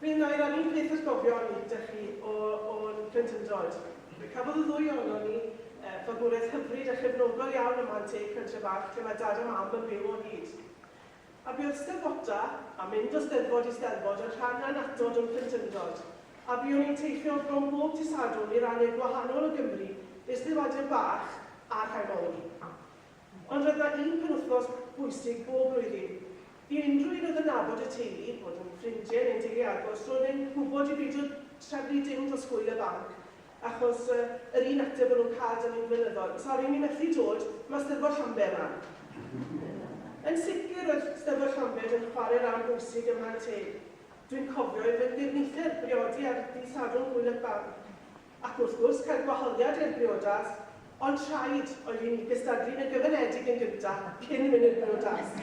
Mi wna i rannu peth o'r gofion 'da chi o o'n plentyndod. Fe cafodd y ddwy ohonon ni fagwraeth hyfryd a chefnogol iawn ym Mhan Teg, pentre fach lle mae Dad a Mam yn byw o hyd. A buodd 'Steddfota, a mynd o Steddfod i Steddfod, yn rhan annatod o'n plentyndod. A buon ni'n teithio bron bob dydd Sadwrn i rannau gwahanol o Gymru, i'r steddfodion bach a'r rhai mawr. Ond roedd 'na un penwythnos bwysig bob blwyddyn. I unrhyw un oedd yn nabod y teulu, bod yn ffrindie neu'n deulu agos, roedd e'n gwbod i beidio trefnu dim dros hwyl y banc, achos yr un ateb o'n nhw'n cael dan ni'n flynyddol, sori, ni methu dod, ma' 'Steddfod Llanber 'ma. Yn sicr roedd 'Steddfod Llanbed yn chware ran bwysig ym mha teg. Dwi'n cofio i fy ngirnitheb briodi ar ddydd Sadwrn hwyl y banc. Ac wrth gwrs cael gwahoddiad i'r briodas, ond rhaid oedd i ni gystadlu'n y gyfyngedig yn gyntaf cyn mynd i'r briodas.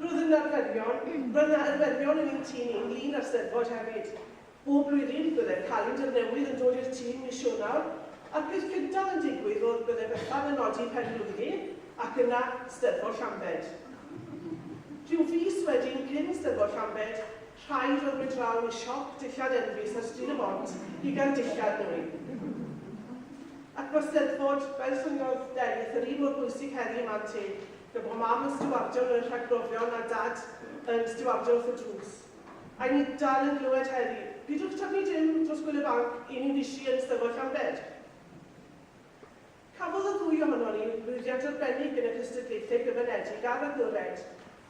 Roedd yn arferion, roedd na arferion yn ein tîm ni ynglŷn â'r Steddfod hefyd. Bob blwyddyn byddai'r calendr newydd yn dod i'r tîm mis Ionawr, a'r peth cyntaf yn digwydd oedd byddai Bethan yn nodi pen blwyddyn ac yna Steddfod Llambed. Rhyw fis wedyn cyn Steddfod Llambed, Rhai ddwrnod draw i siop dillad Elvis ar Stryd y Bont i gael dillad nwy. Ac mae'r Steddfod, fel llwyddodd Delyth, yr un mor bwysig heddi i mam teg, gan bod mam yn stiwardio mewn rhagbrofion a dad yn stiwardio wrth y drws. A i ni dal yn glywed heddi, Pidwch taflu dim dros Gwyl y Banc, 'yn ni'n fisi yn Steddfod Llambed! Cafodd y ddwy ohonon ni lwyddiant arbennig yn y cystadlaethau gyfyngedig ar agored,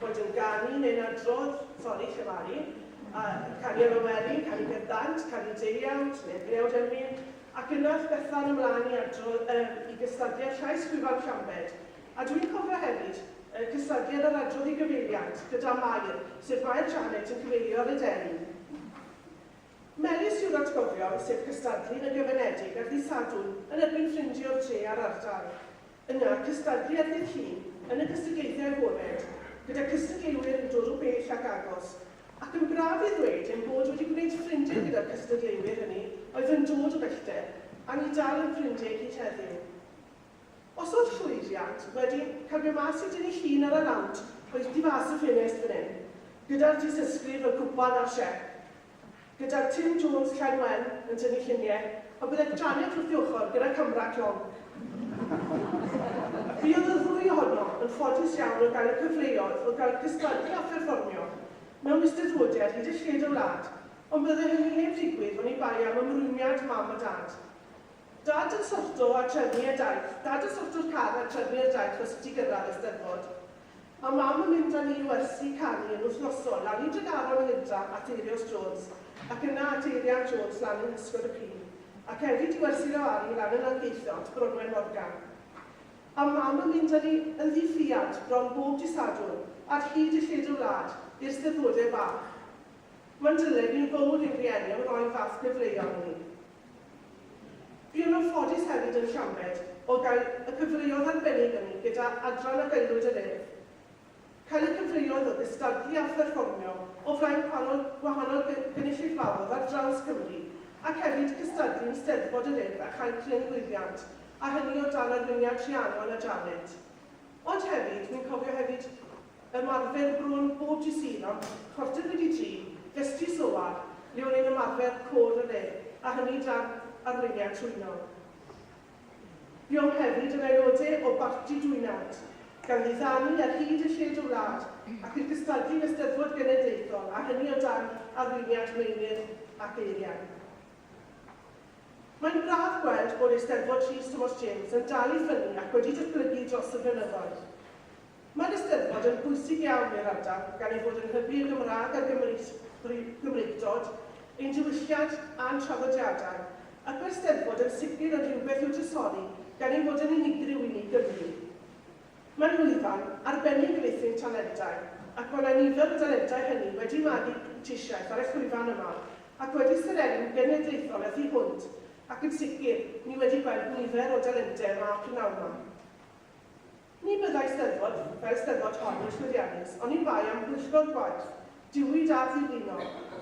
boed yn ganu neu'n adrodd, sori, llefaru, yy, canu ar y wely, canu ger dant, canu deuawd, neu'r deuawd emyn, ac yna ath Bethan ymlaen i adro-, yym, i gystadlu ar Llais Gwyfan Llambed. A dwi'n cofio hefyd, yy, cystadleuadd ar adrodd i gyfeiliant, gyda Mair, sef Mair Janet yn cyfeilio ar y deli. Melys yw'r atgofion sef cystadlu yn gyfyngedig ar ddydd Sadwrn yn erbyn ffrindie o'r dre a'r ardal. Yna, cystadlu ar ddydd Llun yn y cystugeiddiau agored, gyda cystugeilwyr yn dod o bell ac agos. Ac yn braf i ddweud ein bod wedi gwneud ffrindie gyda'r cystadleuwyr hynny oedd yn dod o bellter, a ni dal yn ffrindie i gyd heddiw. Os oedd llwyddiant wedi cymryd mas i dŷ ei hun ar y lawnt, rhoith di fas y ffenest fan hyn, gyda'r dysysgrif, y gwpan a'r siep. Gyda Tim Jones, Llain Wen, yn tynnu lluniau, y byddai Janet wrth ei ochr gyda camera clon. Buodd y ddwy ohonom yn ffodus iawn o gael y cyfleoedd o gael cystadlu a pherfformio mewn Eisteddfodiad hyd y lled y wlad, ond byddai hynny heb ddigwydd oni bai am ymrwymiad Mam a Dad. Dad yn sorto a trefnu y daith. Dad yn sorto'r car a trefnu y daith os ti gyrradd y Steddfod. A Mam yn mynd â ni i wersi canu yn wythnosol, lawr i Dregaron yn gynta at Eirios Jones ac yna at Eirian Jones lan yng nghysgod y Pin, ac hefyd i wersi Lewari lan yn Langeitho at Bronwen Morgan. A Mam yn mynd â ni yn ddi-ffriad bron bob dydd Sadwrn ar hyd y lled y wlad i'r Steddfodau bach. Mae'n dyled ni'n fowr i'n rhieni am roi fath gyfleon i ni. Buon nhw'n ffodus hefyd yn Llambed o gael y cyfleoedd arbennig hynny gyda Adran ac Aelwyd yr Urdd. Cael y cyfleoedd o gystadlu a pherfformio o flaen gwahanol gwahanol gy gynulleidfaodd ar draws Cymru ac hefyd cystadlu yn Steddfod yr Urdd a chael cryn lwyddiant, a hynny o dan arweiniad Rhiannon a Janet. Ond hefyd, wi'n cofio hefyd Ymarfer bron bob dydd Sul ond chwarter wedi dri, Festri Solar, lle o'n i'n ymarfer Côr yr Urdd, a hynny dan arweiniad Twyno. Buom hefyd yn aelodau o Barti Dwynant, gan ddiddanu ar hyd a lled y wlad, ac i'r gystadlu yn y Steddfod Genedlaethol, a hynny o dan arweiniad Meinir ac Eirian. Mae'n braf gweld bod Eisteddfod Rhys Tomos James yn dal i ffynnu ac wedi datblygu dros y blynyddoedd. Mae'r Eisteddfod yn bwysig iawn i'r ardal gan ei fod yn hybu y Gymraeg a'r Gymreictod, ein diwylliant a'n traddodiadau, ac mae'r Steddfod yn sicr yn rhywbeth i'w drysori gan ei fod yn unigryw i ni Gymry. Mae'n lwyfan arbennig i feithrin talentau, ac mae 'na nifer o dalentau hynny wedi magu prentisiaeth ar y llwyfan yma ac wedi serennu'n genedlaethol y thu hwnt, ac yn sicr, ni wedi gweld nifer o dalentau yma p'nawn 'ma. Ni fyddai Steddfod fel Steddfod hon yn llwyddiannus oni bai am bwyllgor gwaith, diwyd a ddiflino,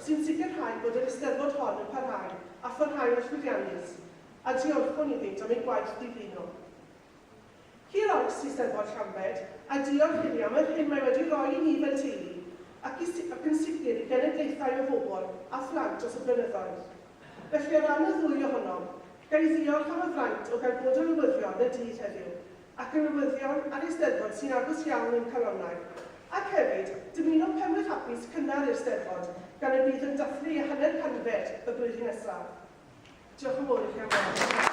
sy'n sicrhau bod yr Eisteddfod hon yn parhau a pharhau'n llwyddiannus, a diolchwn iddynt am eu gwaith diflino. Hir oes i Steddfod Llambed, a diolch iddi am yr hyn mae wedi roi i ni fel teulu, ac i, ac yn sicr i genedlaethau o bobl a phlant dros y blynyddoedd. Felly, o ran y ddwy ohonom, ga i ddiolch am y fraint o gael bod yn newyddion y dydd heddiw, ac y newyddion a'r Eisteddfod sy'n agos iawn i'n calonnau, ac hefyd, dymuno Penwydd Hapus cynnar i'r Steddfod, gan y bydd yn dathlu ei hanner canfed y flwyddyn nesaf. Diolch yn fawr i chi am wrando.